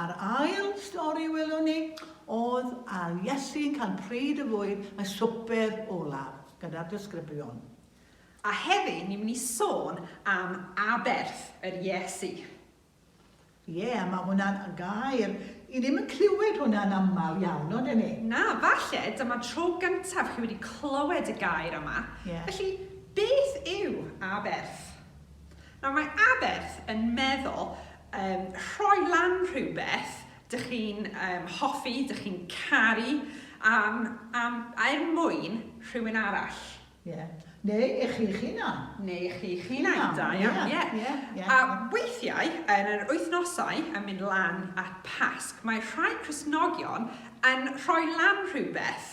A'r ail stori welwn ni oedd ar Iesu'n cael pryd y fwyd, y swper olaf, gyda'r disgyblion. A heddi ni'n mynd i sôn am aberth yr Iesu. Ie, mae hwnna'n gair i ddim yn clywed hwnna'n aml iawn, ond ydyn ni? Na, falle dyma'r tro gyntaf chi wedi clywed y gair yma. Ie. Felly, beth yw aberth? Nawr, mae aberth yn meddwl um, rhoi lan rhywbeth dych chi'n um, hoffi, dych chi'n caru, am, am, er mwyn rhywun arall. Ie. Yeah. Neu i chi'ch hunan. Neu i chi'ch hunan, da iawn, ie. A weithiau, yn yr wythnosau yn mynd lan at Pasg, mae rhai Cresnogion yn rhoi lan rhywbeth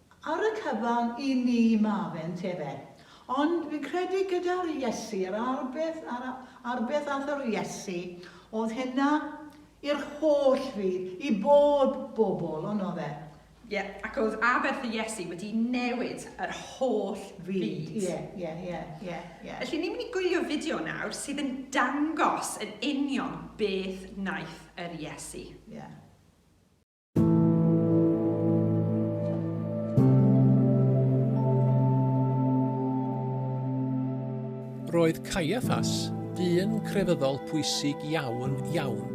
Ar y cyfan i ni mae fe, ynte fe? Ond fi'n credu gyda'r Iesu, yr ail beth, a'r ail beth aeth yr Iesu, oedd hynna i'r holl fyd, i bob bobl, ond oedd e? Ie, ac oedd aberth y Iesu wedi newid yr holl fyd. Fyd, ie, ie, ie, ie, ie. Felly, ni'n mynd i gwylio fideo nawr sydd yn dangos yn union beth wnaeth yr Iesu. Ie. Roedd Caiaffas, dyn crefyddol pwysig iawn, iawn,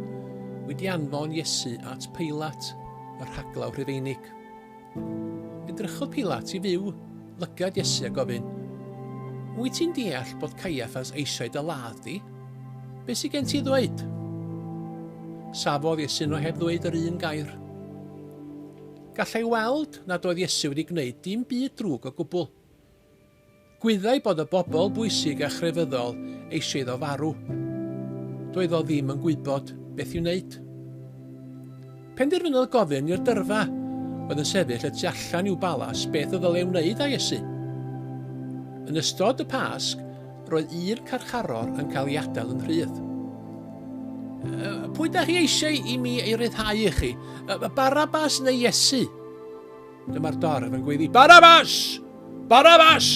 wedi anfon Iesu at Peilat, y rhaglaw Rhufeinig. Edrychodd Peilat i fyw lygad Iesu a gofyn, Wyt ti'n deall bod Caiaffas eisiau dy ladd di? Be sy gen ti i ddweud? Safodd Iesu nhw heb ddweud yr un gair. Gallai weld nad oedd Iesu wedi gwneud dim byd drwg o gwbl. Gwyddai bod y bobl bwysig a chrefyddol eisiau iddo farw. Doedd o ddim yn gwybod beth i'w wneud. Penderfynodd gofyn i'r dyrfa oedd yn sefyll y tu allan i'w balas beth y ddylai wneud â Iesu. Yn ystod y Pasg, roedd un carcharor yn cael ei adael yn rhydd. Pwy da chi eisiau i mi ei ryddhau i chi? Barabas neu Iesu? Dyma'r dorf yn gweiddi, Barabas! Barabas!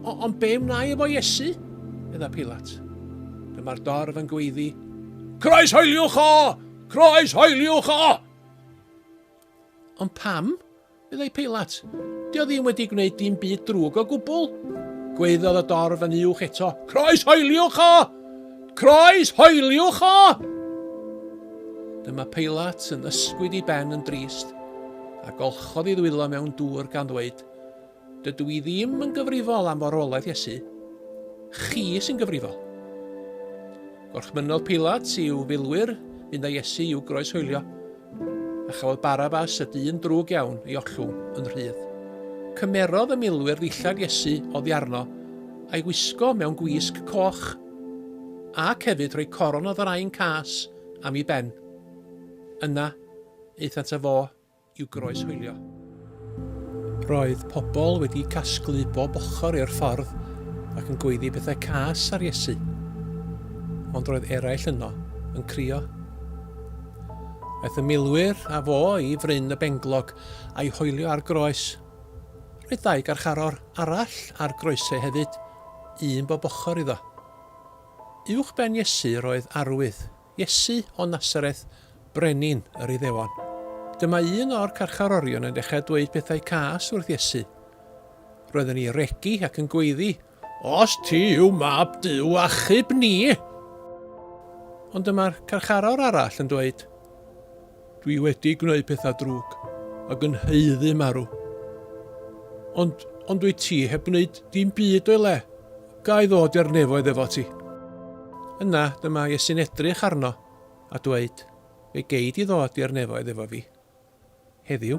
O, ond be wnai efo Iesu? Medda Pilat. Dyma'r dorf yn gweiddi, Croes hoeliwch o! Croes hoeliwch o! Ond pam? meddai Pilat. Dio ddim wedi gwneud dim byd drwg o gwbl. Gweiddodd y dorf yn uwch eto, Croes hoeliwch o! Croes hoeliwch o! Dyma Peilat yn ysgwyd i ben yn drist, a golchodd i ddwylo mewn dŵr gan ddweud, Dydw i ddim yn gyfrifol am forwolaeth Iesu. Chi sy'n gyfrifol. Gorchmynnodd Peilat i'w filwyr fynd â Iesu i'w groes hoelio, a chafodd Barabas y dyn drwg iawn ei ollwng yn rhydd. Cymerodd y milwyr ddillad Iesu oddi arno a'i wisgo mewn gwisg coch. Ac hefyd rhoi coron o ddrain cas am ei ben. Yna, aethant â fo i'w groeshoelio. Roedd pobl wedi casglu bob ochr i'r ffordd ac yn gweiddi pethau cas ar Iesu. Ond roedd eraill yno yn crio. Aeth y milwyr a fo i fryn y benglog a'i hoelio ar groes. Roedd dau garcharor arall ar groesau hefyd. un bob ochr iddo. Uwch ben Iesu yr oedd arwydd, Iesu o Nasareth, Brenin yr Iddewon. Dyma un o'r carcharorion yn dechrau dweud pethau cas wrth Iesu. Roedd yn ei regi ac yn gweiddi, Os ti yw mab Duw, achub ni! Ond dyma'r carcharor arall yn dweud, Dwi wedi gwneud pethau drwg ac yn haeddu marw. Ond, ond dwyt ti heb wneud dim byd o'i le. Ga i ddod i'r nefoedd efo ti? Yna dyma Iesu'n edrych arno a dweud, Fe gei di ddod i'r nefoedd efo fi. Heddiw.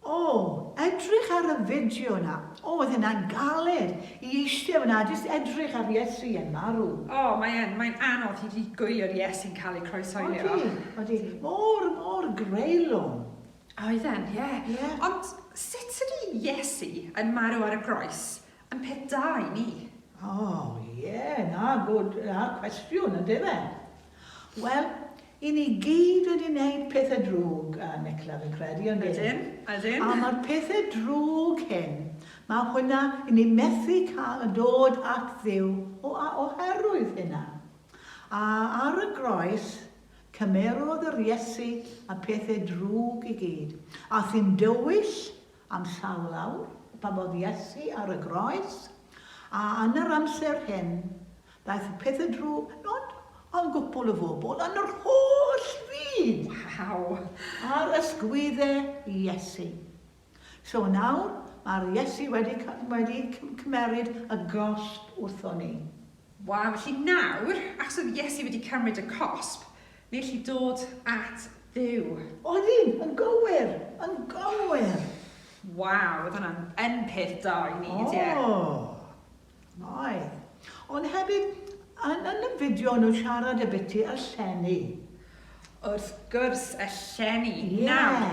O! Edrych ar y fideo 'na. O, oedd hynna'n galed! I eistedd fan'na a jyst edrych ar Iesu yn marw. O, mae yn. Mae'n anodd hyd yn hyd gwylio'r Iesu'n cael ei croeshoelio. Odi, odi. Mor, mor greulon. Oedden, ie. Ie. Ond sut ydy Iesu yn marw ar y groes Yn peth da i mi. Oh ie, na, good, na, cwestiwn, yndyfe? Wel, i ni gyd wedi neud pethe drwg, yy, Nicla, fi'n credu, yndyn? Ydyn, ydyn. A ma'r pethe drwg hyn, ma' hwnna, i ni methu cael y dod at Dduw o a oherwydd hynna. A ar y groes, cymerodd yr Iesu y pethe drwg i gyd. Ath hi'n dywyll, Am llaw lawr, babodd Iesu ar y groes, a yn yr amser hyn, daeth y pethau drwg, nod ond gwpwl y fobl yn yr holl fyd! Waw! Ar ysgwydde Iesu. So yn awr, mae'r Iesu wedi wedi cymeryd y gosb wrthon ni. Waw, felly nawr, achos oedd Iesu wedi cymryd y cosb, Felly dod at Dduw. Oeddym! Yn gywir! Yn gywir! Waw, oedd hwnna'n yn peth da i wneud, ie. O! Oedd. Ond hefyd, yn yn y fideo o'n nhw'n siarad ambiti y llenni. Wrth gwrs, y llenni. Ie. Nawr,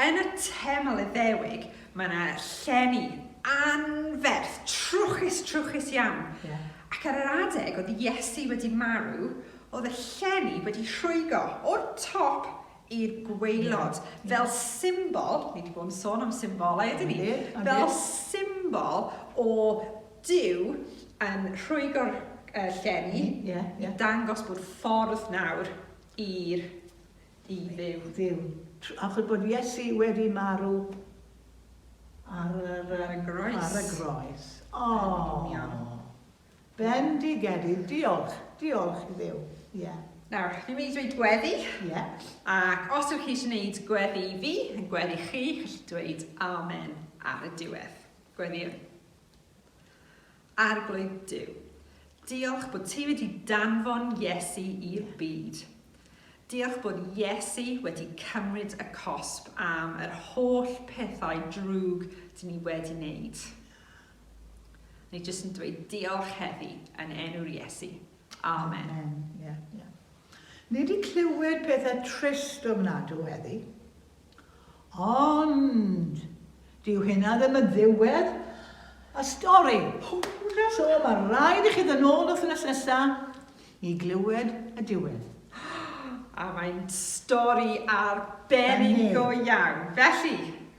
yn y teml Iddewig, mae yna llenni anferth, trwchus, trwchus iawn. Ie. Ac ar yr adeg oedd Iesu wedi marw, Oedd y llenni wedi rhwygo o'r top i'r gwaelod fel symbol, ni wedi bod yn sôn am symbolau ydyn ni, fel symbol o Duw yn rhwygo'r llenni i dangos bod ffordd nawr i'r i Dduw. Achos bod Iesu wedi marw ar y groes. Bendigedig, diolch, diolch i Dduw, ie. Nawr, fi'n mynd i ddweud gweddi. Ie. Ac os ydych chi eisiau gwneud gweddi i fi, yn gweddi chi, chi'n dweud amen ar y diwedd. Gweddiwn. Arglwydd Duw, diolch bod ti wedi danfon Iesu i'r byd. Diolch bod Iesu wedi cymryd y cosb am yr holl pethau drwg dyn ni wedi wneud. Ni jyst yn dweud diolch heddi yn enw'r Iesu. Amen. Amen. Yeah, yeah. Ni wedi clywed pethau trist ofnadw heddi. Ond, dyw hynna ddim yn ddiwedd y stori. So mae rhaid i chi ddyn ôl wythnos nesaf i glywed y diwedd. A mae'n stori arbennig go iawn. Felly,